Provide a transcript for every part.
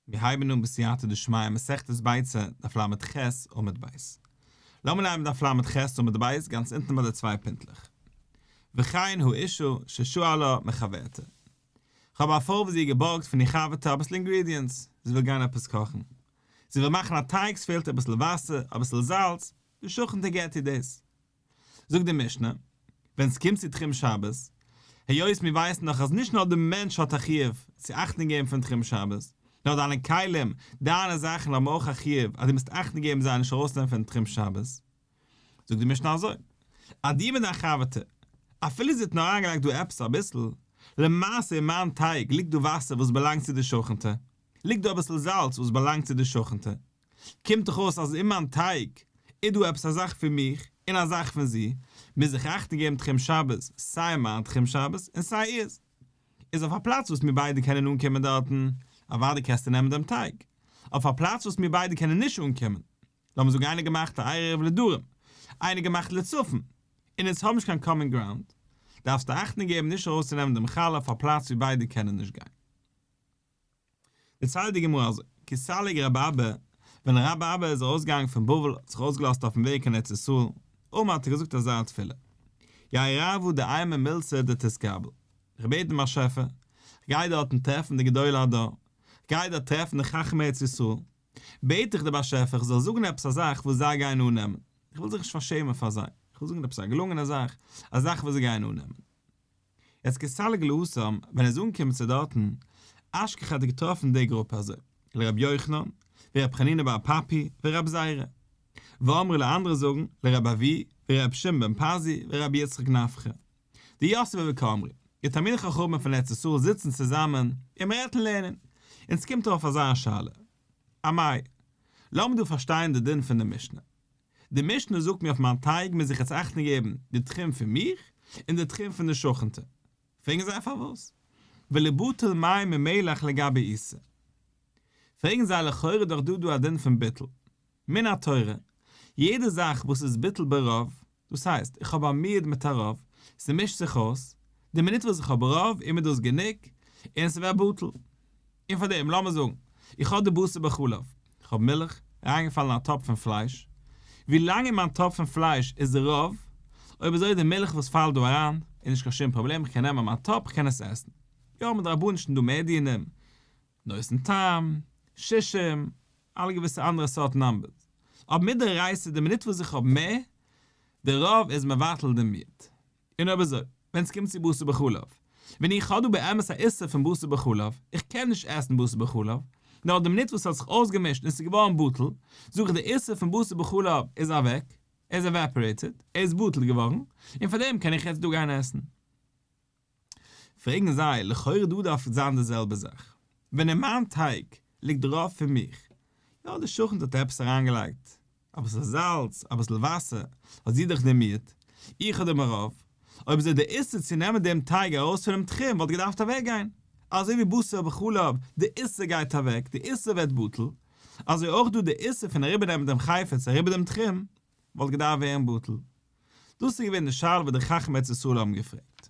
מיר הייבן אן בסייעתא דשמיא מסכת ביצה דף ל' ח עמוד ב'. לאמיר לייענען דף ל' ח עמוד ב' גאנץ אונטן ביי די צוויי פינטלעך. וכן הוא אישו ששאלה מחברתה. כ'האב א פרוי וואס זי האט געבארגט פון איר חבר'טע אביסל אינגרידיענטס, זי וויל גיין עפעס קאכן. זי וויל מאכן א טייג ס'פעלט איר אביסל וואסער, אביסל זאלץ, די שכנ'טע געבט איר דאס. זאגט די משנה, ווען ס'קומט צו תחום שבת, היות מיר ווייסן דאך אז נישט נאר די מענטש האט א חיוב צו אכטונג געבן פון תחום שבת, נאר דיינע כלים, דיינע זאכן האבן אויך א חיוב אז דו מוזט אכטונג געבן זיי נישט ארויסנעמען פון תחום שבת. זאגט די משנה אזוי, אז דיר מיט דיין חבר'טע, אפילו זי האט נאר אריינגעלייגט דא עפעס אביסל, למעשה אין מיין טייג ליגט דא וואסער וואס באלאנגט צו די שכנ'טע, ליגט דא אביסל זאלץ וואס באלאנגט צו די שכנ'טע, קומט דאך אויס אז אין מיין טייג איז דא עפעס א זאך פון מיך און א זאך פון זי, מוז איך אכטונג געבן תחום שבת, סיי מיין תחום שבת און סיי איר'ס איז אויף א פלאץ וואס מיר ביידע קענען אנקומען דארטן, אוודאי קענסטו נעמען דעם טייג אויף א פלאץ וואס מיר ביידע קענען נישט אנקומען, לאמיר זאגן איינער געמאכט א ערב לדרום, איינער געמאכט לצפון, און אונז האבן נישט קיין קאמאן גראונד, דארפסטו אכטונג געבן נישט ארויסצונעמען דעם חלה אויף א פלאץ ווי ביידע קענען נישט גיין. דערציילט די גמרא אזוי, כסליג רב אבא, ווען רב אבא איז ארויסגעגאנגען פון בבל האט זיך אויסגעלאזט אויפן וועג קיין ארץ ישראל, אמער האט ער געזאגט אזא תפילה, יהי רבו דעימא מילתא דתתקבל, כ'בעט דעם באשעפער, כ'גיי דארטן טרעפן די גדולי הדור, כ'גיי דארט טרעפן די חכמי ארץ ישראל, בעט איך די באשעפער כ'זאל זאגן עפעס א זאך וואס זיי גייען אננעמען, כ'וויל זיך נישט פארשעמען פאר זיי, כ'וויל זאגן עפעס א געלונגענע זאך, א זאך וואס זיי גייען אננעמען. יעצט כסליג לאסם ווען ער איז אנגעקומען צו דארטן אשכח האט ער געטראפן די גרופע אזוי לרבי יוחנן ורבי חנינא בר פפי ורבי זירא ואמרי לע אנדערע זאגן לרבי אבי ורבי שמעון בן פזי ורבי יצחק נפחא די יאסעווע וכאמרי די תלמידי חכמים פון ארץ ישראל זיצן צוזאמען און מען רעדט און לערנען אונז קומט ארויף אזא שאלה א מאי לאמיר דא פארשטיין די דין פון די משנה די משנה זאגט מיר אויף מיין טייג מוז איך יעצט אכטונג געבן די תחום פון מיך און די תחום פון די שכנ'טע. פרעגן זיי פארוואס? ולא בטל מים ממילך לגבי איסור. פרעגן זיי לכאורה דאך דא דא א דין פון ביטול. מן התורה, יעדע זאך וואס איז בטל ברוב, דאס הייסט איך האב א מיעד מיט א רוב, ס'מישט זיך אויס, די מינוט וואס איך האב רוב איז מיר דאס גענוג און ס'ווערט בטל. און פאר דעם, לאמיר זאגן, איך האב די בשר בחלב, איך האב מילך, אריינגעפאלן אין א טאפ פון פלייש, ווי לאנג אין מיין טאפ פון פלייש איז די רוב, אויב איז אויך די מילך וואס פאלט דא אריין, איז נישט קיין שום פראבלעם, איך קען נעמען מיין טאפ, איך קען עס עסן. יא, האבן די רבנישן דא מער דיונים, נושן טעם, שישים, אלע געוויסע אנדערע סארט נאמבערס. אבער מיט די רייסער, די מינוט וואס איך האב מער, די רוב איז מבטל דעם מיעט. און אויב אזוי, ווען ס'קומט צו בשר בחלב, ווען איך האב דא באמת א איסור פון בשר בחלב, איך קען נישט עסן בשר בחלב, נאר די מינוט וואס ס'האט זיך אויסגעמישט און ס'איז געווארן בטל, זאג איך די איסור פון בשר בחלב איז אוועק, ער איז עוועפארעיטעד, ער איז בטל געווארן, און פאר דעם קען איך יעצט דא גיין עסן. פרעגן זיי, לכאורה דא דארף זיין די זעלבע זאך, ווען אין מיין טייג ליגט דערויף פון מיך, יא די שכן האט עפעס אריינגעלייגט, אביסל זאלץ, אביסל וואסער, האט זי דאך דערמירט, איך אדער מירב, אויב איז דאך די איסור צו נעמען דעם טייג ארויס פונעם תחום וואלט געדארפט אוועקגיין, אזוי ווי בשר בחלב, די איסור גייט אוועק, די איסור ווערט בטל, אזוי אויך דא די איסור פון אריבערנעמען דעם חפץ אריבער דעם תחום, וואלט געדארפט ווערן בטל. דאס איז געווען די שאלה וואס די חכמי ארץ ישראל האבן געפרעגט.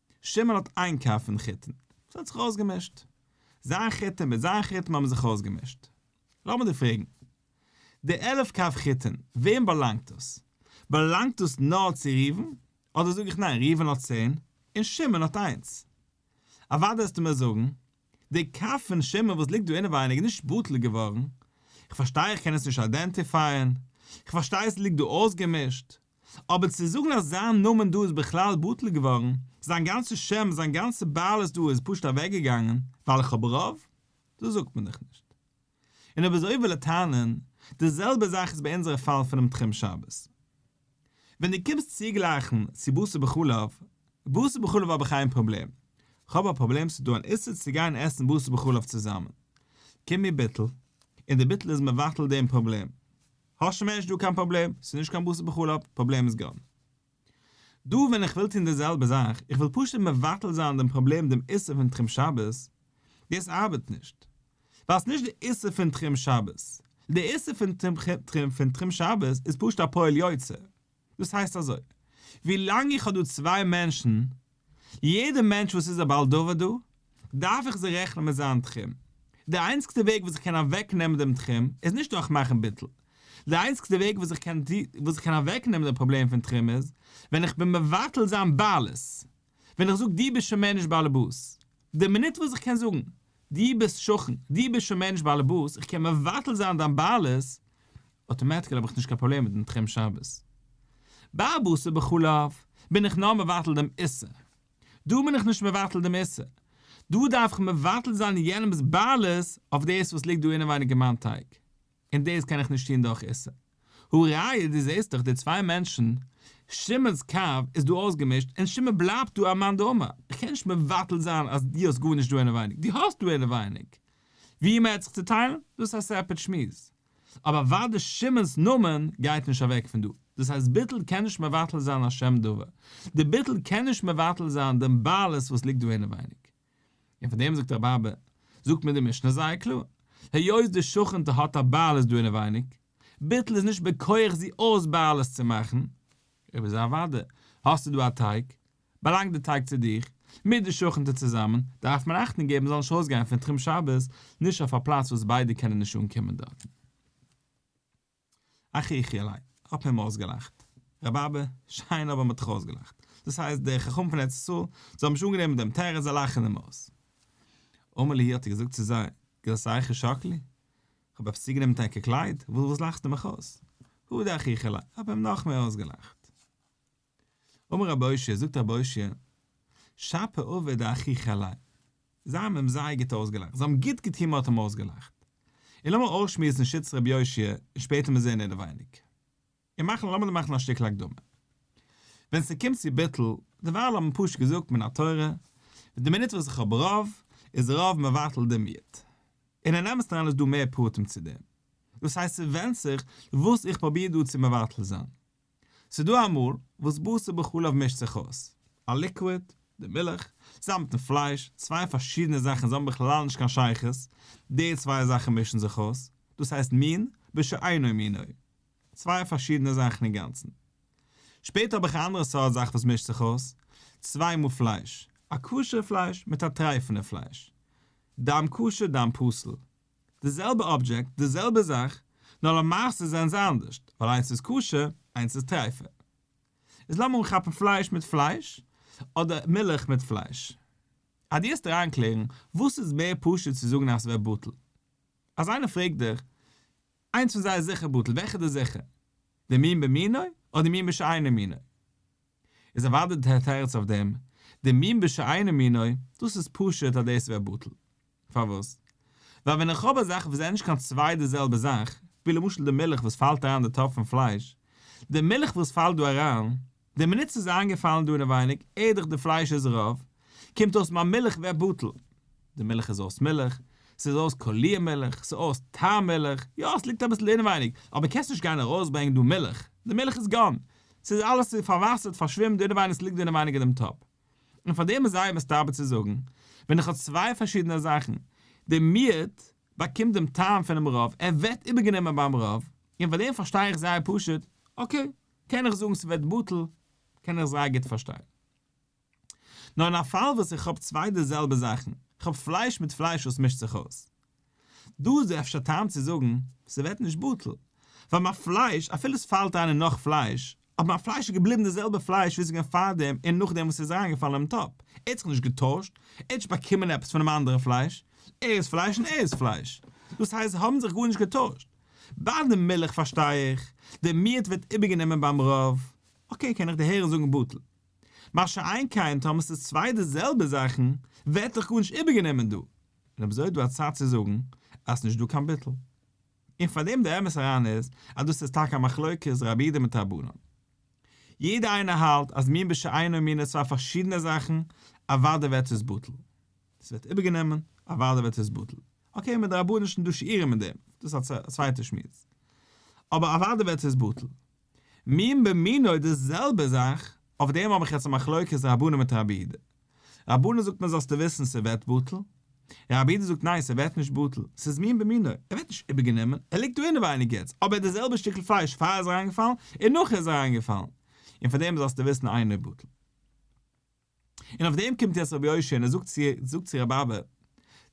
שמעון האט איין קאפ פון חיתן, עס האט זיך אויסגעמישט. זיין חיתן מיט זיין חיתן האבן זיך אויסגעמישט. לאמיר דיר פרעגן, די עלף קאפ חיתן, וועם באלאנגט דאס? באלאנגט דאס נאר צו ראובן? אדער זאג איך ניין, ראובן האט צען, און שמעון האט איינס. אוודאי וועסטו מיר זאגן, די קאפ פון שמעון וואס ליגט דא אינעווייניג איז נישט בטל געווארן, איך פארשטיי איך קען עס נישט איידענטיפייען, איך פארשטיי עס ליגט דא אויסגעמישט, אבער צו זאגן אז זיין נאמען דא איז בכלל בטל געווארן, זיין גאנצע שם, זיין גאנצע בעלות דא איז פשוט אוועקגעגאנגען, ווייל איך האב רוב? דאס זאגט מען דאך נישט. און אויב אזוי וויל ער טענה'ן, די זעלבע זאך איז ביי אונזערע פאל פונעם תחום שבת. ווען דו קומסט צוגלייכן צו בשר בחלב, בשר בחלב האב איך איין פראבלעם, כ'האב א פראבלעם ס'איז דא אן איסור צו גיין עסן בשר בחלב צוזאמען. קומט מיר בטל, און די בטל איז מבטל דעם פראבלעם. האסט מער נישט דא קיין פראבלעם, ס'איז נישט קיין בשר בחלב, פראבלעם איז גאן. דא ווען איך וויל טון די זעלבע זאך, איך וויל פשוט מבטל זיין דעם פראבלעם דעם איסור פון תחום שבת, דאס ארבעט נישט. ווייל ס'נישט די איסור פון תחום שבת. די איסור פון תחום שבת איז פשוט א פועל יוצא. דאס הייסט אזוי, ווי לאנג איך האב דא צוויי מענטשן, יעדע מענטש וואס איז א בעל דבר דא, דארף איך זיי רעכענען מיט זיין תחום. די איינציגסטע וועג וואס איך קען אוועק נעמען דעם תחום, איז נישט דורך מאכן ביטול. די איינציגסטע וועג וואס איך קען אוועק נעמען די פראבלעם פון תחום איז, ווען איך בין מבטל זיין בעלות. ווען איך זאג דו ביסט שוין מער נישט באלעבאס, די מינוט וואס איך קען זאגן דו ביסט שכן, דו ביסט שוין מער נישט באלעבאס, איך קען מבטל זיין דיין בעלות, אוטומעטיקעל האב איך נישט קיין פראבלעם מיט דעם תחום שבת. ביי בשר בחלב בין איך נאר מבטל דעם איסור. דא בין איך נישט מבטל דעם איסור. דא דארף איך מבטל זיין יענעמ'ס בעלות אויף דאס וואס ליגט דא אינעווייניג אין מיין טייג. און דאס קען איך נישט טון דורך איסור. הא ראיה דו זעסט דאך די צוויי מענטשן, שמעון'ס קו איז דא אויסגעמישט און שמעון בלייבט דא א מאן דאמר, איך קען נישט מבטל זיין אז דו האסט גארנישט דא אינעווייניג, דו האסט דא אינעווייניג. ווי מ'העט זיך צוטיילן, דאס איז א סעפערעט שמועס. אבער אוודאי שמעון'ס נאמען גייט נישט אוועק פון דא. דאס הייסט ביטול קען נישט מבטל זיין א שם דבר. די ביטול קען נישט מבטל זיין דעם בעלות וואס ליגט דא אינעווייניג. און פון דעם זאגט רבב א, זאגט מיר די משנה זייער קלאר, היות די שכנ'טע האט א בעלות דא אינעווייניג, ביטול איז נישט בכח זי אויס בעלות צו מאכן, אויב איז אוודאי האסטו דא א טייג, באלאנגט די טייג צו דיר, מיט די שכנ'טע צוזאמען, דארף מען אכטונג געבן זאל נישט אויסגיין פון תחום שבת, נישט אויף א פלאץ וואס ביידע קענען נישט אנקומען דארטן. אך יחיאלי, כ'האב אים אויסגעלאכט. רבבה, שיין אבער מ'האט דיך אויסגעלאכט. דאס הייסט, דער חכם פון ארץ ישראל, זיי האבן נישט אנגענומען דעם תירוץ, זיי לאכן אים אויס. אמר לי, האט ער געזאגט צו זיי, גלסייכי שקלי? כ'האב עפעס צוגענומען מיט ענקער קלייד? וואס לאכסטו מיך אויס? הודי אך יחיאלי, כ'האב אים נאכמער אויסגעלאכט. אמר רבי הושע, זאגט רבי הושע, שפע אויף את דאחיך עלי. זיי האבן אים זייער גוט אויסגעלאכט, זיי האבן גוט געטון מען האט אים אויסגעלאכט. און לאמיר אויסשמועסן שיטת רבי יושע, און שפעטער מיר זעהן אינעווייניג. און מאכן לאמיר דא מאכן א שטיקל הקדמה. ווען ס'קומט צו ביטול, דערווייל האט מען פשוט געזאגט מן התורה, די מינוט וואס איך האב רוב, איז רוב מבטל דעם יוט. און אין אמת'ן איז דא מער פרטים צו דעם. דאס הייסט ס'ווענדט זיך וואס איך פרוביר דא צו מבטל זיין. ס'איז דא א מאל וואס בשר בחלב מישט זיך אויס, א ליקוויד, די מילך, צוזאם מיטן פלייש, צוויי פארשידענע זאכן, זיי האבן בכלל נישט קיין שייכות, די צוויי זאכן מישן זיך אויס, דאס הייסט מין בשאינו מינו, צוויי פארשידענע זאכן אינגאנצן. שפעטער האב איך א אנדערע סארט זאך וואס מישט זיך אויס, צוויי מאל פלייש, א כשר'ע פלייש מיט א טרייפענע פלייש, דם כשר דם פסול, די זעלבע אבדזשעקט, די זעלבע זאך, נאר למעשה זענען זיי אנדערשט, ווייל איינס איז כשר, איינס איז טרייפה. איז לאמיר אנכאפן פלייש מיט פלייש, אדער מילך מיט פלייש. אז דו העסט אריינקלערן, וואס איז מער פשוט צו זאגן אז ס'ווערט בטל? אז איינער פרעגט דיך, איינס פון זיי איז זיכער בטל, וועלכע איז דער זיכער? דער מין במינו, אדער מין בשאינו מינו? איז אוודאי די תירץ אויף דעם, די מין בשאינו מינו, דאס איז פשוט אז דאס ווערט בטל. פארוואס? ווייל ווען איך האב א זאך וואס זענען נישט קיין צוויי די זעלבע זאך, ווי למשל די מילך וואס פאלט אריין אין די טאפ פון פלייש, די מילך וואס פאלט דא אריין, די מינוט ס'איז אריינגעפאלן דא אינעווייניג, עדכ די פלייש איז רעוו, קומט אויס מיין מילך ווערט בטל. די מילך איז אויס מילך, ס'איז אויס קאליר מילך, ס'איז אויס טעם מילך, יא ס'ליגט אביסל אינעווייניג, אבער קענסט נישט גיין ארויסברענגען דא מילך, די מילך איז גאן, ס'איז אלעס צו פארוואסערט, פארשווימט, דער אינעווייניגס ליגט דער אינעווייניג אין דעם טאפ. און פאר דעם איז זייער מסתבר צו זאגן, ווען איך האב צוויי פארשידענע זאכן, דער מיעוט באקומט דעם טעם פונעם רוב, ער ווערט איבערגענומען ביים רוב, און פאר דעם פארשטיי איך זייער פשוט, אקעי, קען איך זאגן ס'ווערט בטל, קען איך זייער גוט פארשטיין. נאר אין א פאל וואס איך האב צוויי די זעלבע זאכן, כ'האב פלייש מיט פלייש וואס מישט זיך אויס. דא איז דא אפשר טעם צו זאגן, ס'ווערט נישט בטל, ווייל מיין פלייש, אפילו ס'פאלט אריין אין נאך פלייש, אבער מיין פלייש איז געבליבן די זעלבע פלייש ווי ס'איז געווען פארדעם און נאכדעם וואס ס'איז אריינגעפאלן אינעם טאפ, ער האט זיך נישט געטוישט, ער האט נישט באקומען עפעס פונעם אנדערע פלייש, ער איז פלייש און ער איז פלייש, דאס הייסט זיי האבן זיך גארנישט געטוישט. ביי די מילך פארשטיי איך, די מיעוט ווערט איבערגענומען ביים רב, אקעי קען איך דערהערן זאגן בטל. מה שאין כן טאמער ס'איז צוויי די זעלבע זאכן ווערט דאך גארנישט איבערגענומען דא, און אויב אזוי איז דא א צד צו זאגן אז ס'נישט דא קיין ביטול. און פאר דעם די אמת אריין איז אז דאס איז טאקע א מחלוקת רבי ד מיט רבנן. יעדער איינער האלט אז מין בשאינו מינו איז צוויי פארשידענע זאכן, אוודאי ווערט עס בטל. ס'ווערט איבערגענומען, אוודאי ווערט עס בטל. אקעי מדרבנן איז נישט דא שיעורים אין דעם, דאס איז א צווייטע שמועס. אבער אוודאי ווערט עס בטל. מין במינו די זעלבע זאך, אויף דעם האב איך יעצט א מחלוקת רבנן מיט רבי איד. רבנן זאגט מיר זאלסטו וויסן ס'ווערט בטל, רבי איד זאגט ניין ס'ווערט נישט בטל, ס'איז מין במינו, ער ווערט נישט איבערגענומען, ער ליגט דא אינעווייניג יעצט, אבער די זעלבע שטיקל פלייש פאר ער איז אריינגעפאלן און נאך ער איז אריינגעפאלן, און פאר דעם זאלסטו וויסן איינער איז בטל. און אויף דעם קומט יעצט רבי יושע און ער זאגט צו זאגט צו ר' באבע,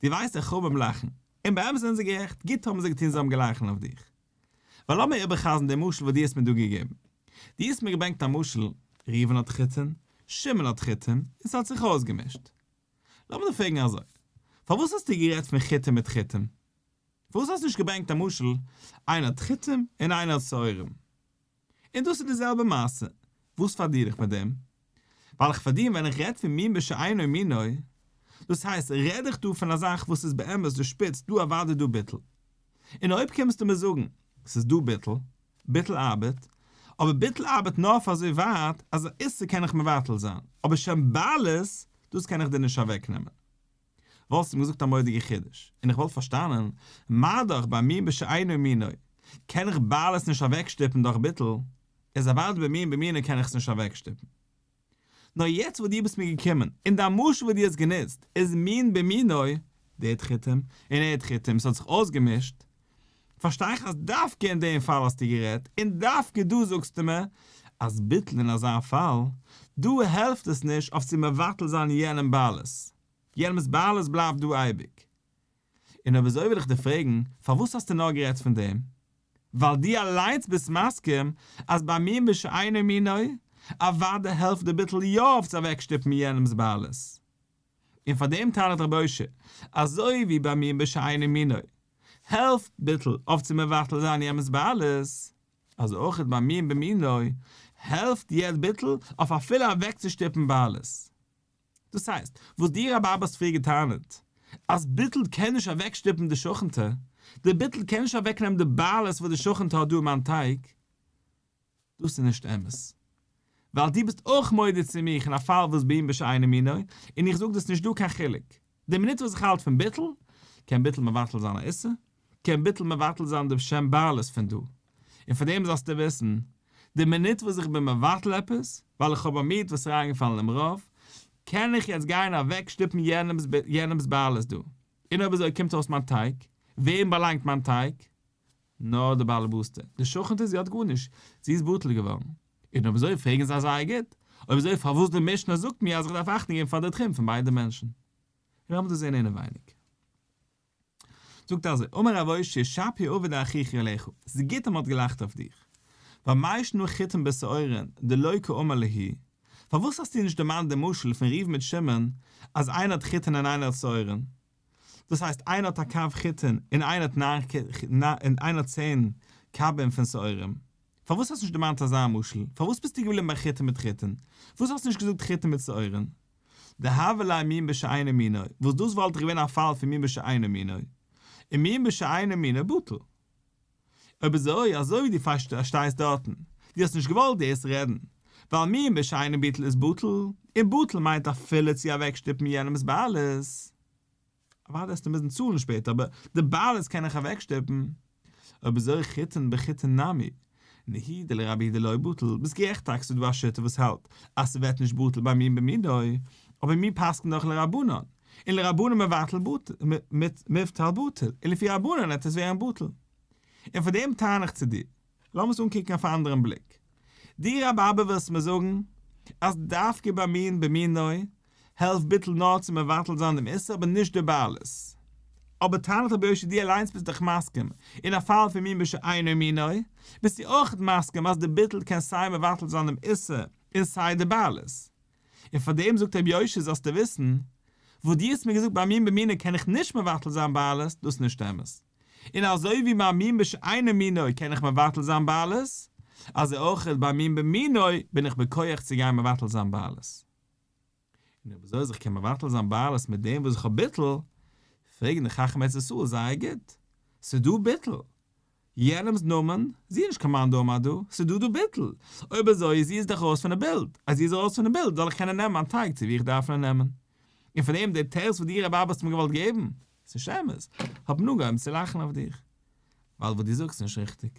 דו ווייסט איך האב אים לאכן, און באמת זענען זיי גערעכט, גוט האבן זיי געטון זיי האבן געלאכן אויף דיך. ווייל לאמיר איבער'חזר'ן דעם משל וואס דו האסט מיר דא געגעבן. דו האסט מיר געברענגט א משל, ראובן האט חיתון, שמעון האט חיתון, און ס'האט זיך אויסגעמישט. לאמיר דיר פרעגן אזוי, פארוואס האסטו גערעדט פון חיתון מיט חיתון? פארוואס האסטו נישט געברענגט א משל, איינער האט חיתון און איינער האט שעורים? און דאס איז די זעלבע מעשה, וואס פארדיר איך מיט דעם? ווייל איך פארדיר ווען איך רעד פון מין בשאינו מינו, דאס הייסט רעד איך דא פון א זאך וואס איז באמת די שפיץ, דא אוואדי דא ביטול. און אויב קומסטו מיר זאגן, ס'איז דא ביטול, ביטול ארבעט, אבער ביטול ארבעט נאר פאר אזוי ווייט אז א איסור קען איך מבטל זיין, אבער שם בעלות, דאס קען איך דיר נישט אוועקנעמען. וואלסט אים געזאגט א מודיגע חידוש, און איך וואלט פארשטאנען, מה דאך ביי מין בשאינו מינו, קען איך בל עס נישט אוועקשטופן דורך ביטול, איז אוודאי ביי מין במינו קען איך עס נישט אוועקשטופן. נאר יעצט וואס דו ביסט מיר געקומען, און דיין משל וואס דו האסט גענוצט, איז מין במינו, דעד חיטים און עד חיטים, ס'האט זיך אויסגעמישט, פארשטיי איך אז דווקא אין דעם פאל האסטו גערעדט, און דווקא דא זאגסטו מיר אז ביטול אין אזא פאל, דא העלפט עס נישט אויף צו מבטל זיין יענעם בעלות, יענעמ'ס בעלות בלייבט דא אייביג. און אויב אזוי וויל איך דיר פרעגן, פארוואס האסטו נאר גערעדט פון דעם? ווייל דו אליינס ביסט מסכים אז ביי מין בשאינו מינו, אוודאי העלפט די ביטול יא אויף צו אוועקשטופן יענעמ'ס בעלות. און פאר דעם טענה'ט רבי אושר, אזוי ווי ביי מיר בשאינו מינו, העלפט ביטול אויף צו מבטל זיין יעמס בעלות, אזוי אויך איז ביי מיר במינו, העלפט יעצט ביטול אויף אפילו אוועקצושטופן בעלות. דאס הייסט, וואס דו רבי האסט פריער געטענה'ט, אז ביטול קען נישט אוועקשטופן די שכנ'טע, די ביטול קען נישט אוועקנעמען די בעלות וואס די שכנ'טע האט דא אום מיין טייג, דאס איז נישט אמת. ווייל דו ביסט אויך מודה צו מיך אין א פאל וואס ביאים בשאינו מינו, און איך זאג דאס נישט דא קיין חילוק. די מינוט וואס איך האלט פון ביטול, קען ביטול מבטל זיין א איסור, קען ביטול מבטל זיין די שם בעלות פון דא. און פאר דעם זאלסטו וויסן, די מינוט וואס איך בין מבטל עפעס, ווייל איך האב א מיעוט וואס איז אריינגעפאלן אין רוב, קען איך יעצט גיין אוועק שטופן יענעמס בעלות דא. און אויב אזוי קומט אויס מיין טייג, וועם באלאנגט מיין טייג? נאָר די באַלעבאָסטע, די שכנטע, זי האָט גאָרנישט, זי איז בטל געוואָרן. און אויב אַזוי, פֿרעגן זיי זייער גוט, אויב אַזוי, פֿאַר וואָס די משנה זאָגט מיר, אַז איך דאַרף אַכטונג געבן פֿאַר די טרומפּ פֿון ביידע מענטשן? לאָמיר דאָס זען אינעווייניק. זאָגט אַזוי, אמר רב אוישי, שפּי אָבֿר דאחיך יעלעך, ס'איז גוט, אַז מ'האָט געלאַכט אויף דיך. ווײַל מה ישנו חיטים בשעורין, דלא כאומר ליהי? פֿאַר וואָס האָסטו נישט דערמאָנט דעם משל פֿון ריוון מיט שמעון, אַז איינער האָט חיטין און איינער האָט שעורין? דאס הייסט איינער האט א קו חיטין און איינער האט ניין און איינער האט צען קווין פון שעורים, פארוואס האסט נישט דערמאנט אזא משל? פארוואס ביסטו געבליבן ביי חיטין מיט חיטין? פארוואס האסטו נישט געזאגט חיטין מיט שעורים? דהוה ליה מין בשאינו מינו, וואס דאס וואלט דאך געווען א פאל פון מין בשאינו מינו, און מין בשאינו מינו בטל. אויב איז אוי אזוי ווי דו פארשטייסט דארטן, דו האסט נישט געוואלט דאס רעדן, ווייל מי מש אינו ביטול איז בטל, און בטל מיינט אפילו צו אוועקשטופן יענעמ'ס בעלות, אוודאי וועסטו מוזן צאלן שפעטער אבער די בעלות קען איך אוועקשטופן, אויב איז אוי חיתן בחיתן נמי, נהי דלא רבי דלא בטל, ביסט גערעכט טאקע ס'דא א שיטה וואס האלט אז ס'ווערט נישט בטל ביי מין במינו, אבער מיר פסק'ן דאך לרבנן, און לרבנן מבטל מבטל בטל, און לפי רבנן וועט עס ווערן בטל. און פאר דעם טען איך צו דיר, לאמיר עס אנקוקן אויף א אנדערן בליק. דו רבי אבער ווילסט מיר זאגן אז דווקא ביי מין במינו העלפט ביטול נאר צו מבטל זיין דעם איסור אבער נישט די בעלות. אבער טענת רבי יושע דו אליינס ביסט דאך מסכים, אין א פאל פון מין בשאינו מינו, ביסטו אויך מסכים אז די ביטול קען סיי מבטל זיין דעם איסור און סיי די בעלות. און פאר דעם זאגט רבי יושע זאלסטו וויסן, וואס דו האסט מיר געזאגט ביי מין במינו קען איך נישט מבטל זיין בעלות, דאס איז נישט אמת. און אזוי ווי ביי מין בשאינו מינו קען איך מבטל זיין בעלות, אזוי אויך ביי מין במינו בין איך בכח צו גיין מבטל זיין בעלות. און אויב אזוי אז איך קען מבטל זיין בעלות מיט דעם וואס איך האב ביטול, פרעגן די חכמי ארץ ישראל זייער גוט, ס'דא ביטול, יענעמ'ס נאמען, זי איז נישט קיין מאן דאמר דא, ס'דא דא ביטול, אויב אזוי איז זי איז דאך ארויס פון די בילד, אז זי איז ארויס פון די בילד זאל איך קענען נעמען מיין טייג צו ווי איך דארף נעמען, און פון דעם דער תירוץ וואס דו רבי אבא האסט מיר געוואלט געבן, ס'איז נישט אמת, האב מיר אנגעהויבן צו לאכן אויף דיך, ווייל וואס דו זאגסט איז נישט ריכטיג.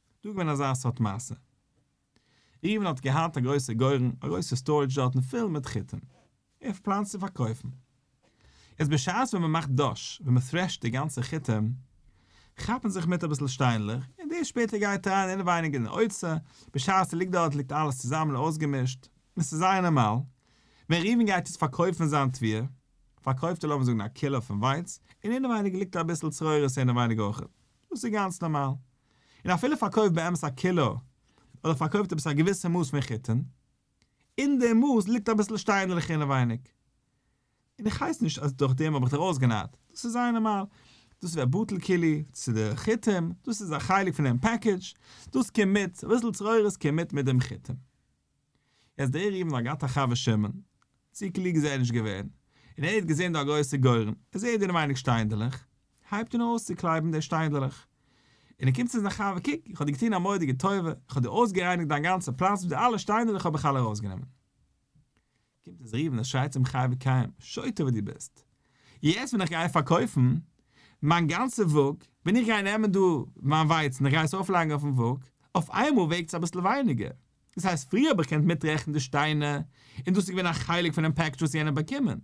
דא איז געווען אזא סארט מעשה. ריווען האט געהאט א גרויסע גורן, א גרויסע סטארעדזש דארטן פול מיט חיטים. ער האט פלאנט צו פארקויפן. יעצט בשעת ווען מען מאכט דאש, ווען מען טרעשט די גאנצע חיטים, כאפן זיך מיט אביסל שטיינלעך, און דאס שפעטער גייט אריין אינעווייניג אין די אוצר, בשעת עס ליגט דארט ליגט אלעס צוזאמען אויסגעמישט, און עס איז זייער נארמאל. ווען ריווען גייט יעצט פארקויפן זיין תבואה, פארקויפט ער לאמיר זאגן א קילא פון ווייץ, און אינעווייניג ליגט אביסל צרורות אינעווייניג אויכעט. דאס איז גאנץ נארמאל. און אפילו פארקויפט באמת א קילא, אדער פארקויפט עפעס א געוויסע מאס פון חיטין, אין די מאס ליגט אביסל שטיינעלעך אינעווייניג. און איך הייס נישט אז דורך דעם האב איך דיר אויסגענארט, דאס איז זייער נארמאל, דאס ווערט בטל כולי צו די חיטים, דאס איז א חלק פון דעם פעקעדזש, דאס קומט מיט, אביסל צרורות קומט מיט דעם חיטים. יעצט דער ריבן האט געהאט א חבר שמן, צו קלוג איז ער נישט געווען, און ער האט געזען דא א גרויסע גורן, ער זעט דא אין ווייניג שטיינדלעך, הייבט אן אויסצוקלייבן די שטיינדלעך, און ער קומט צו זיין חבר קוק איך האב דיר געטון א מודיגע טובה, איך האב דיר אויסגערייניגט דיין גאנצע פלאץ, די אלע שטיינדלעך האב איך אלע ארויסגענומען. קומט עס רופן עס שרייט צום חי וקיים, שוטה וואס דו ביסט, יעצט ווען איך גיי פארקויפן מיין גאנצע וואג, ווען איך גיי נעמען דא מיין ווייצן איך גיי עס אויפלייגן אויפן וואג, אויף איינמאל וועגט עס אביסל ווייניגער, דאס הייסט פריער האב איך געקענט מיטרעכנען די שטיינער און דאס איז געווען א חלק פונעם פעקדזש וואס יענער האט באקומען,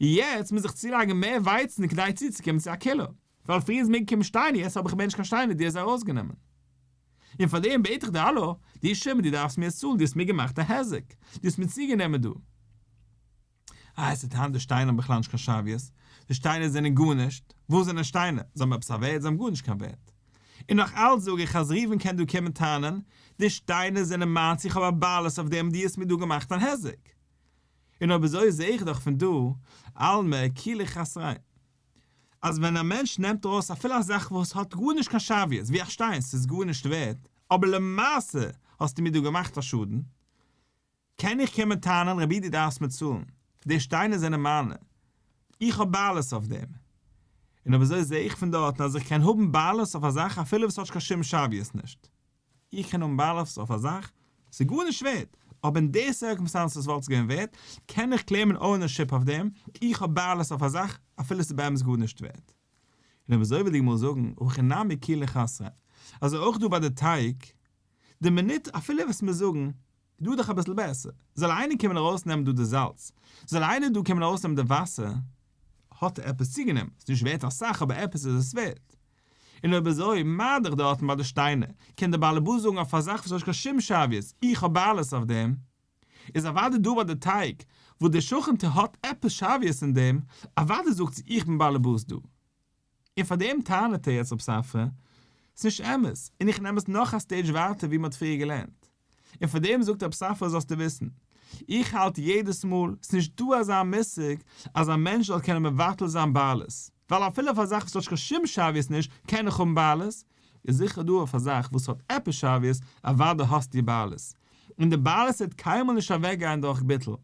יעצט מוז איך צולייגן מער ווייצן כדי צוצוקומען צו א קילא, ווייל פריערס מעג קומען שטיינער יעצט האב איך מער נישט קיין שטיינער די האסט זיי ארויסגענומען און פארדעם בעט איך דיר האלא די שומער די דארפסט מיר עס צאלן די האסט מיר געמאכט א היזק די האסט מיר צוגענומען דא אה עס איז היינט די שטיינער האבן בכלל נישט קיין שוויות די שטיינער זענען גארנישט וואס זענען שטיינער זיי האבן עפעס א ווערד זיי האבן גארנישט קיין ווערד און נאך אלץ זאג איך אז ראובן קען דא קומען טענה'ן די שטיינער זענען מיינס איך האב א בעלות אויף דעם די האסט מיר דא געמאכט אן היזק און אויב אזוי זעה איך דאך פון דא עלמא כולי חסרין. אז ווען א מענטש נעמט ארויס אפילו א זאך וואס האט גארנישט קיין שוויות, ווי א שטיין, ס'איז גארנישט ווערד, אבער למעשה האסטו מיר דא געמאכט א שאדן, קען איך קומען טענה'ן, רבי דו דארפסט מיר צאלן, די שטיינער זענען מיינע, איך האב בעלות אויף דעם. און אויב אזוי זע איך פון דארטן אז איך קען האבן בעלות אויף א זאך אפילו וואס האט קיין שום שוויות נישט. איך קען האבן בעלות אויף א זאך, ס'איז גארנישט ווערט, אבער אין די סירקעמסטענסעס וואלט עס געווען ווערט, קען איך קלעימען אוינערשיפ אויף דעם, איך האב בעלות אויף א זאך, אפילו ס'איז באמת גארנישט ווערט. און אויב אזוי וועט די גמרא זאגן, הכי נמי כלי לחסרא, אזוי אויך דא ביי די טייג, די מינוט אפילו וועסט מיר זאגן, דא איז דאך אביסל בעסער, זאל איינער קומען ארויסנעמען דא די זאלץ, זאל איינער דא קומען ארויסנעמען די וואסער, האט ער עפעס צוגענומען, ס'איז נישט ווערט אסאך אבער עפעס איז עס ווערט, און אויב אזוי, מה דיך דארטן ביי די שטיינער, קען דער באלעבאס זאגן אויף א זאך וואס האט נישט קיין שום שוויות, איך האב בעלות אויף דעם, איז אוודאי דא ביי די טייג וואס דער שכן טו האט עפעס שוויות אין דעם, אוודאי זאגט זי איך בין באלעבאס דא. און פאר דעם טענה'ט ער יעצט רב ספרא, ס'נישט אמת, און איך נעם עס נאך א סטעידזש ווייטער ווי מ'האט פריער געלערנט. און פאר דעם זאגט אבסאפ פאר זאלסטו וויסן, איך האלט יעדעס מאל, ס'איז נישט דא אזא מושג אז א מענטש זאל קענען מבטל זיין בעלות, ווייל אפילו אויף א זאך וואס האט שוין קיין שום שוויות נישט קען איך האבן בעלות, איז זיכער דא אויף א זאך וואס האט עפעס שוויות, אוודאי האסטו בעלות, און די בעלות וועט קיינמאל נישט אוועקגיין דורך ביטול,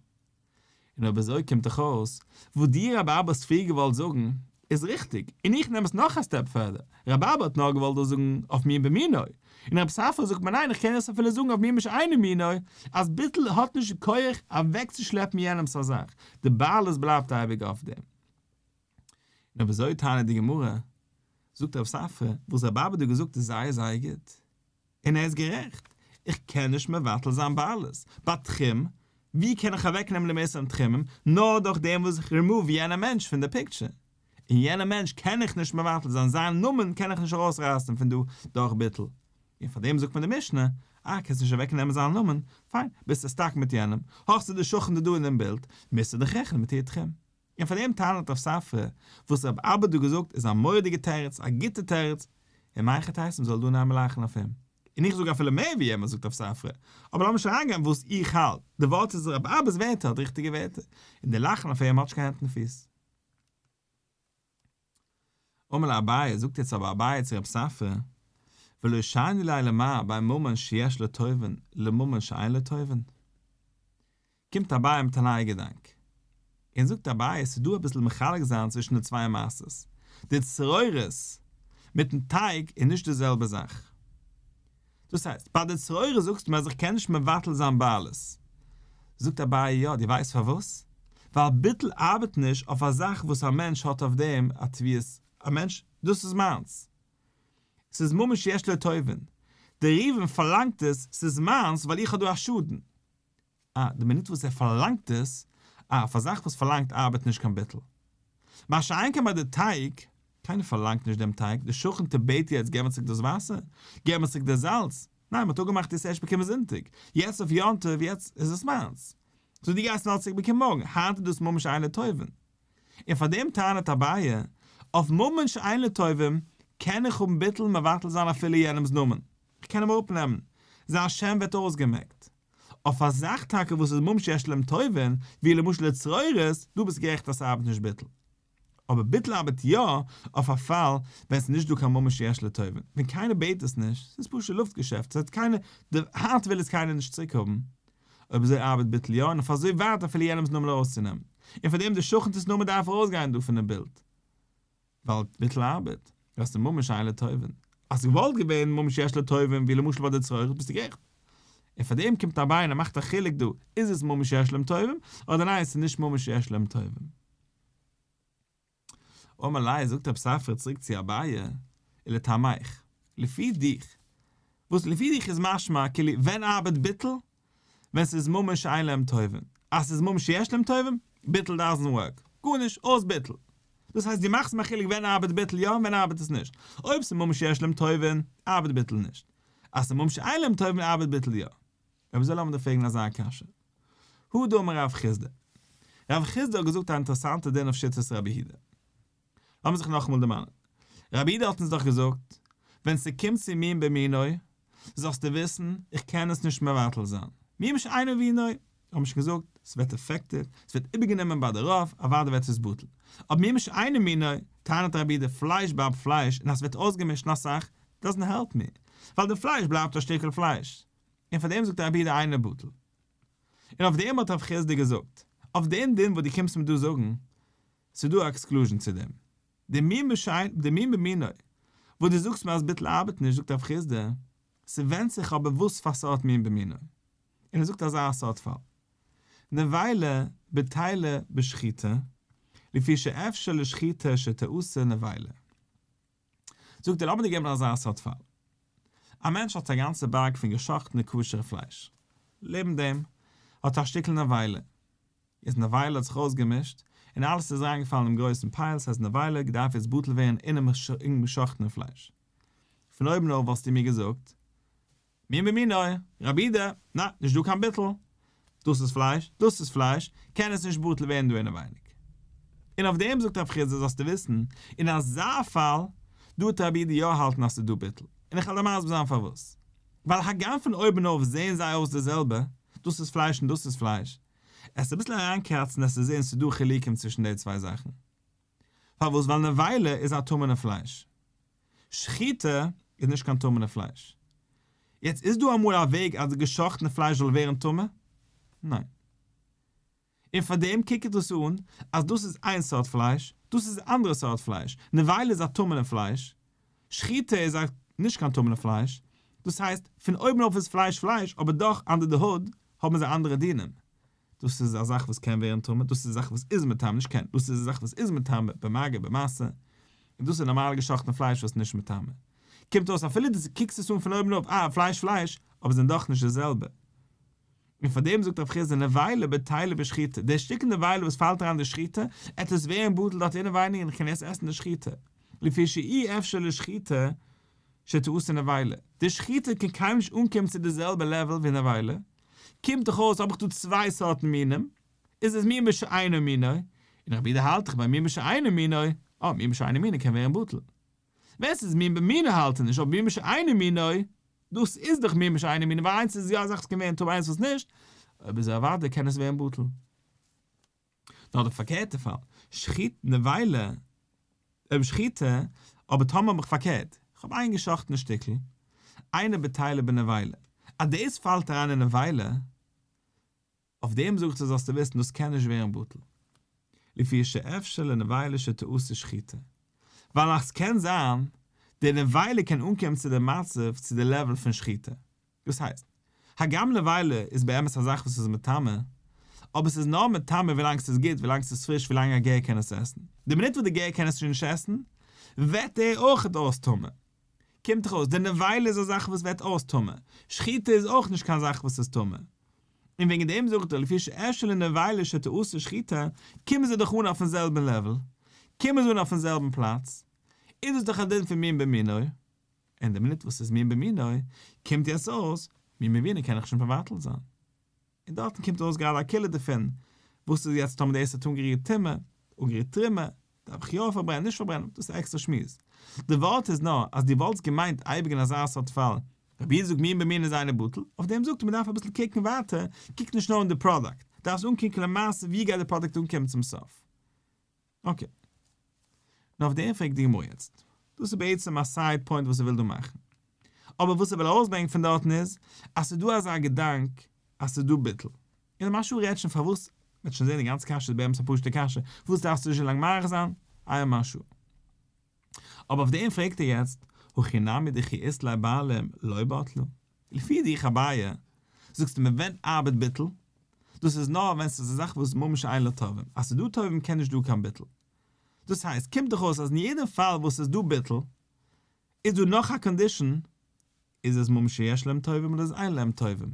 און אויב אזוי קומט דאך אויס וואס דיר רבי אבא האסט פריער געוואלט זאגן איז ריכטיג, און איך נעם עס נאך א סטעפ פערדער, רבי אבא האט נאר געוואלט דאס זאגן אויף מין במינוי, און רבי סאפרא זאגט מיר ניין איך קען עס אפילו זאגן אויף מין בשאינו מינו, אז ביטול האט נישט די כח אוועקצושלעפן יענעמס א זאך, די בעלות בלייבט אייביג אויף דעם. נאר ווי אזוי טענה'ט די גמרא, זאגט רב ספרא, וואס רב אבד האט געזאגט איז זייער זייער גוט, און ער איז גערעכט, איך קען נישט מבטל זיין בעלות, ביי תחום, ווי קען איך אוועק נעמען די מעשר און תחומים, נאר דורך דעם וואס איך רימאוו יענע מענטש פון די פיקטשער, און יענע מענטש קען איך נישט מבטל זיין, זיין נאמען קען איך נישט ארויס רייסן פון דא דורך ביטול, און פאר דעם זאגט מיר די משנה, אה קענסט נישט אוועק נעמען זיין נאמען, פיין, ביסטו סטאק מיט יענעם, האסטו די שכן די דא אינעם בילד, מוזטו דיך רעכענען מיט איר תחום. און פאר דעם טענה'ט רב ספרא, וואס רב אבד האט געזאגט איז א מורא'דיגע תירוץ, א גוטע תירוץ, און מיין חטא הייסט מ'זאל דא ניין לאכן אויף אים. און איך זאג אפילו מער ווי יענער זאגט רב ספרא, אבער לאמיר נישט אריינגיין וואס איך האלט, די ווארט איז רב אבד'ס ווערטער האט ריכטיגע ווערטער, און די לאכן אויף אים האט נישט קיין הענט און פיס. אמר לאביי, זאגט יעצט אבער אביי צו רב ספרא, ולא שני ליה למה ביי ממון שיש לו טובין לממון שאין לו טובין? קומט אביי מיט א נייע געדאנק, און זאגט אביי ס'איז דא אביסל מחלק זיין צווישן די צוויי מעשות, די צרורות מיטן טייג איז נישט די זעלבע זאך. דאס הייסט, ביי די צרורה זאגסט מען אז איך קען נישט מבטל זיין בעלות. זאגט אביי, יא, דו ווייסט פארוואס? ווייל ביטול ארבעט נישט אויף א זאך וואס א מענטש האט אויף דעם א תביעות, א מענטש, דאס איז מיינס. ס'איז ממש יש לו טובין. דער ראובן פארלאנגט עס, ס'איז מיינס ווייל איך האב דא א שאדן. אה, די מינוט וואס ער פארלאנגט עס, אה, אויף א זאך וואס פארלאנגט ארבעט נישט קיין ביטול. מה שאין כן ביי די טייג, קיינער פארלאנגט נישט דעם טייג, די שכן טע בעט יעצט געב מיר צוריק דאס וואסער, געב מיר צוריק דער זאלץ, ניין מ'האט אפגעמאכט יעצט ערשט באקומען זונטאג, יעצט אויף יום טוב, יעצט איז עס מיינס. סאו דו גייסט נאר צוריק באקומען מארגן, היינט איז דאס ממש איין לטובים. און פאר דעם טענה'ט אביי, אויף ממש איין לטובים קען איך האבן ביטול און מבטל זיין אפילו יענעמ'ס נאמען, איך קען אים אראפנעמען, זיין שם ווערט אויסגעמעקט. אויף א זאך טאקע וואס איז ממש יש להם טובין, ווי למשל די צרורות, דא ביסטו גערעכט אז ס'ארבעט נישט ביטול. אבער ביטול ארבעט יא אויף א פאל ווען ס'איז נישט דא קיין ממש יש להם טובין, ווען קיינער בעט עס נישט, ס'איז פשוט לופט געשעפט, ס'האט קיינער, די הארץ וויל עס קיינער נישט צוריק האבן, אויב אזוי ארבעט ביטול יא, און אויף אזוי ווייט אפילו יענעמ'ס נאמען ארויסצונעמען. און פארדעם די שכנ'ס נאמען דארף ארויסגיין דא פונעם בילד. ווייל ביטול ארבעט וועסטו ממש איין לטובין, אז ס'וואלט געווען ממש יש לטובין ווי למשל ביי די צרור ביסטו גערעכט, און פאר דעם קומט אבי און ער מאכט א חילוק דא איז עס ממש יש להם טובים אדער ניין ס'איז נישט ממש יש להם טובים. אמר ליה זאגט רב ספרא צוריק צו אביי, ולטעמיך, לפי דיך, וואס לפי דיך איז משמע כאילו ווען ארבעט ביטול ווען ס'איז ממש אין להם טובים, אז ס'איז ממש יש להם טובים, ביטול דאזענט ווארק, גארנישט, אויס ביטול. דאס הייסט דו מאכסט מיר א חילוק ווען ארבעט ביטול יא און ווען ארבעט עס נישט. אויב ס'איז ממש יש להם טובים, ארבעט ביטול נישט. אז ס'איז ממש אין להם טובים ארבעט ביטול יא. אויב אזוי לאמיר דיר פרעגן אזא קשיא. הא דאמר רב חיסדא. רב חיסדא האט געזאגט א אינטערעסאנטע דין אויף שיטת רבי הידא. לאמיר זיך נאכאמאל דערמאנען, רבי איד האט אונז דאך געזאגט, ווען ס'קומט צו מין במינוי, זאלסטו וויסן, איך קען עס נישט מבטל זיין. מין בשאינו בינוי, האבן מיר שוין געזאגט, ס'ווערט עפעקטעד, ס'ווערט איבערגענומען ביי די רוב, אוודאי ווערט עס בטל. אבער מין בשאינו מינוי, טענה'ט רבי איד, די פלייש בלייבט פלייש, און אז ס'ווערט אויסגעמישט און אסאך, דאזענט העלפ מי, ווייל די פלייש בלייבט א שטיקל פלייש. און פארדעם זאגט רבי איד אינו בטל. און אויף דעם האט רב חיסדא געזאגט, אויף דעם דין וואס דו קומסט מיר דא זאגן, ס'דא א עקסקלוזשן צו דעם. די מין בשיינ, די מין במינוי, וואס דו זאגסט מיר אז ביטול ארבעט נישט, זאגט הרב חסדא, ס'ווענדט זיך אבער וואס פאר סארט מין במינוי. און ער זאגט אזא סארט פאל. נבילה בטלה בשחיטה, לפי שאפשר לשחיטה שתעשה נבילה. זאגט ער, האבן די געבן אזא סארט פאל. א מענטש האט א גאנצע בארג פון געשאכטענע כשר'ע פלייש. לעבן דעם האט א שטיקל נבילה. איז נבילה האט זיך אויסגעמישט, און אלעס איז אריינגעפאלן אינעם גרויסן פייל, ס'הייסט נבילה געדארף יעצט בטל ווערן אינעם געשאכטענעם פלייש. פון אויבן אויף וואלסטו מיר געזאגט, מין במינו, רבי ד, נע, נישט דא קיין ביטול. דאס איז פלייש, דאס איז פלייש, קען עס נישט בטל ווערן דא אינעווייניג. און אויף דעם זאגט רב חיסדא, זאלסטו וויסן, אין אזא פאל דא טאר רבי ד יא האלטן אז ס'איז דא ביטול, און איך העל דיר מסביר זיין פארוואס. ווייל הגם פון אויבנאויף זעען זיי אויס די זעלבע, דאס איז פלייש און דאס איז פלייש, עסט אביסל אריינקראצן עסטו זען ס'איז דא חילוקים צווישן די צוויי זאכן. פארוואס? ווייל נבילה איז א טמא'נע פלייש. שחיטה איז נישט קיין טמא'נע פלייש. יעצט איז דא אמאל א וועג אז די גע'שחט'נע פלייש זאל ווערן טמא? ניין. און פאר דעם קוקט דאס אן אז דאס איז איין סארט פלייש, דאס איז א אנדערע סארט פלייש, נבילה איז א טמא'נע פלייש, שחיטה איז א נישט קיין טמא'נע פלייש, דאס הייסט פון אויבן אויף איז פלייש פלייש אבער דאך אנדער די הוד האבן זיי אנדערע דינים. דאס איז א זאך וואס קען ווערן טמא, דאס איז א זאך וואס איז מטעם, נישט קען, דאס איז א זאך וואס איז מטמא, במגע, במעשה, און דאס איז נארמאל געשאכטן פלייש וואס איז נישט מטמא. קומט אויס אפילו די קוקסט עס אן פון אויבן אויף, אה, פלייש פלייש, אבער זענען דאך נישט די זעלבע. און פאר דעם זאגט רב חיסדא נבילה בטילה בשחיטה, דער שטיקל נבילה וואס פאלט אריין די שחיטה, עט עס ווערן בטל דארט אינעווייניג און איך קען עס עסן די שחיטה, לפי שאי אפשר לשחיטה שתעשה נבילה, די שחיטה קען קיינמאל נישט אנקומען צו די זעלבע לעוועל ווי נבילה, קומט דאך אויס האב איך דא צוויי סארטן מינים, איז עס מין בשאינו מינו, און איך ווידער האלט איך ביי מין בשאינו מינו, אויב מין בשאינו מינו קען ווערן בטל. ווען ס'איז מין במינו האלט איך נישט, אבער מין בשאינו מינו, דאס איז דאך מין בשאינו מינו, ווייל איינס איז יא א זאך וואס קען ווערן טוב, איינס וואס נישט, אויב איז ער אוודאי קען עס ווערן בטל. נאר די פארקערטע פאל, שחיט נבילה, אויב שחיטה, אבער טאמער האב איך פארקערט, כ'האב איין געשאכטענע שטיקל, איינער בתילה בנבילה, אז דאס פאלט אריין אין נבילה, אויף דעם זאג איך דיר זאלסטו וויסן דאס קען נישט ווערן בטל, לפי שאפשר לנבילה שתעשה שחיטה, ווייל נאך ס'קען זיין, די נבילה קען אנקומען צו די מצב צו די לעוועל פון שחיטה, דאס הייסט, הגם נבילה איז באמת א זאך וואס איז מטמא, אבער ס'איז נאר מטמא ווילאנג ס'איז גוט, ווילאנג ס'איז פריש, ווילאנג א גר קען עס עסן. די מינוט וואס די גר קען עס שוין נישט עסן, וועט ער אויך אויס טמא. קומט דאך אויס, די נבילה איז א זאך וואס וועט אויס טמא. שחיטה איז אויך נישט קיין זאך וואס איז טמא. און וועגן דעם זאגט ער, לפי שאשא לנבילה שתעשה שחיטה, קומען זיי דאך אן אויפן זעלבן לעוול, קומען זיי אן אויפן זעלבן פלאץ, איז דאס דאך א דין פון מין במינו'ו. אין די מינוט וואס איז מין במינו, קומט יעצט אויס, מין במינו קען איך שוין מבטל זיין. און דארטן קומט ארויס גראדע א קילע דערפון, וואס איז יעצט טאמער די עסט האט אנגערירט טומאה, אנגערירט תרומה, דארף איך יא פארברענען נישט פארברענען, דאס איז א עקסטער שמועס. די ווארט איז נאר, אז דו וואלטסט געמיינט אייביג אין אזא סארט פאל, רבי'ן זאגט מין במינו איז איינער בטל, אויף דעם זאגט ער מ'דארף אביסל קוקן ווייטער, קוק נישט נאר אין די פראדאקט, דארפסט אנקוקן למעשה ווי גייט די פראדאקט אנקומען צום סוף. אקעי. נו אויף דעם פרעגט די גמרא יעצט. דאס איז בעצם א סייד פוינט וואס איך וויל דא מאכן. אבער וואס איך וויל ארויסברענגען פון דארטן איז, אז ס'איז דא אזא געדאנק אז ס'איז דא ביטול. און דער משל רעדט שוין פארוואס, מ'וועט שוין זען די גאנצע קשיא איז באמת א פשוט'ע קשיא, פארוואס דארף עס אזוי לאנג מאריך זיין? איה משהו. אבער אויף דעם פרעגט ער יעצט, הכי נמי דכי איסלאי בעלים לא בטלו? לפי דיך אביי, זאגסטו מען ווענדט ארבעט ביטול, דאס איז נאר ווען ס'איז א זאך וואס ממש אין לה טובים, אז ס'איז דא טובים קען נישט דא קיין ביטול. דאס הייסט, קומט דאך אויס אז אין יעדעם פאל וואס ס'איז דא ביטול, איז דא נאך א קאנדישאן, איז עס ממש שיש להם טובים אדער איז אין להם טובים?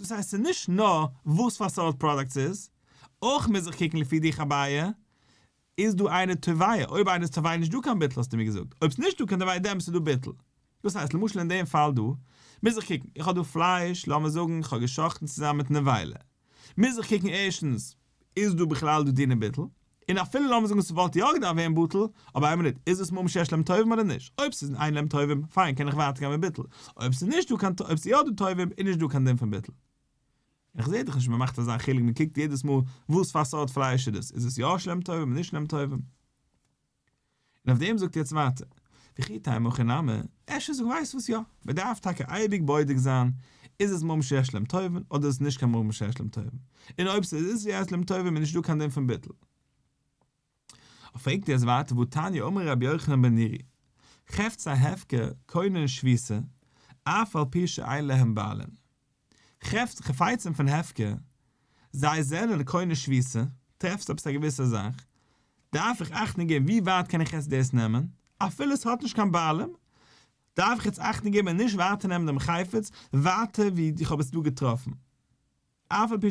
דאס הייסט ס'איז נישט נאר וואס פאר סארט פראדאקט ס'איז, אויך מוז איך קוקן לפי די חביה, איז דא איינער טבעיה, אויב איינער איז טבעיה נישטא קיין ביטול האסטו מיר געזאגט, אויב ס'איז נישטא קיין טבעיה דעמאלטס איז דא ביטול. דאס הייסט למשל אין דעם פאל דא, מוז איך קוקן, איך האב דא פלייש, לאמיר זאגן איך האב גע'שחט'ן צוזאמען מיט נבילה, מוז איך קוקן ערשטנס, איז דא בכלל דא דינא ביטול? און אפילו לאמיר זאגן ס'וואלט יא געדארפט ווערן בטל, אבער איין מינוט, איז דאס מאמין שיש להם טובים אדער נישט? אויב ס'איז אין להם טובים, פיין קען איך ווייטער גיין מיט ביטול, אויב ס'איז נישט דא קיין טובים, אויב ס'איז יא דא טובים, איז נישט דא קיין דין פון ביטול. און איך זעה דאך נישט מ'מאכט אזא חילוק, מ'קוקט יעדעס מאל וואס פאר סארט פלייש איז דאס, איז עס יא יש להם טובים אדער נישט להם טובים. און אויף דעם זאגט ער יעצט ווייטער, וכי תי' מוכי נמי, אפשר זאג ווייסט וואס יא, מען דארף טאקע אייביג בודק זיין איז עס מום שיש להם טובין אדער איז עס נישט קיין מום שיש להם טובין, און אויב ס'איז יש להם טובים איז נישט דא קיין דין פון ביטול. אויף פרעגט ער יעצט ווייטער והתניא אמר רבי יוחנן בן נרי, חפצי הפקר קונה און שביסה, אף על פי שאין להם בעלין. כאפסט חפצים פון הפקר, זיי זענען קונה שביתה, טרעפסט עפעס א געוויסע זאך, דארף איך אכטונג געבן ווי ווייט קען איך יעצט דאס נעמען, אפילו עס האט נישט קיין בעלים, דארף איך יעצט אכטונג געבן און נישט ווייטער נעמען דעם חפץ ווייטער ווי איך האב עס דא געטראפן, אף על פי